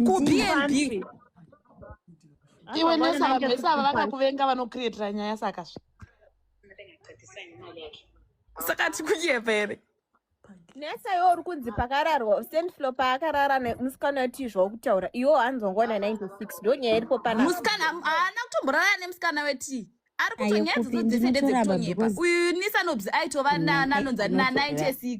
kubnb iwe nesava vese ava vakakuvenga vanokrietira nyaya saka zve saka tikuyepa here nesa iwo uri kunzi pakararwa stand floor paakarara nemusikana wetii zvawakutaura iwo hanzongona 96 ndo nyaya iripo panamusikana haana kutomborara nemusikana wetii ari kuto nyaya dzodzese ndedzekutonyepa uyu nisanobs aitova nananonzi na 96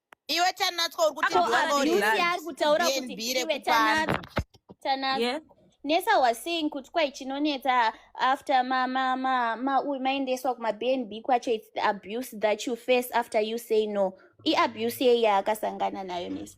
iwe tanatswa uri kuti Ko Ko Ari Lucy Lucy. ari kutaura kuti DNB iwe rekupanda. tanatswa tanatswa Yeah. nesa was saying kuti kwai chinonetsa after ma ma ma ma uyu maendeswa kuma bnb kwacho its the abuse that you face after you say no iabuse yei yaakasangana nayo nesa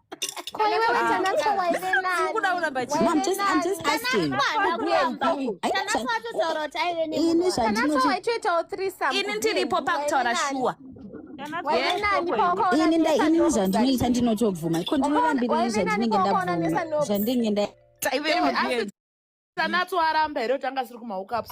ini ndiripo pakutaura shuwa ini ndainini zvandinoita ndinotobvuma iko ndinorambirei zvandinenge ndabvuma zvandinge nda taive asi tanatswaramba here kuti anga siri kumahookups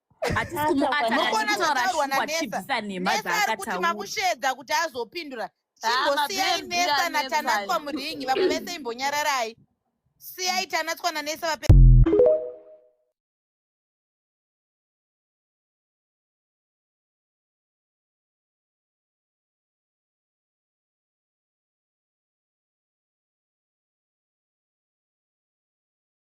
hatisi kumuata Mokona anotaura zvataurwa shuwa naNesa. chibvisa nhema Nesa ari kuti dzaakataura makushedza kuti azopindura. Ah, Chimbosiyai mabhebhi Nesa anetsa. naTanatswa muringi vamwe vese imbonyararai. Siyai Tanatswa naNesa vape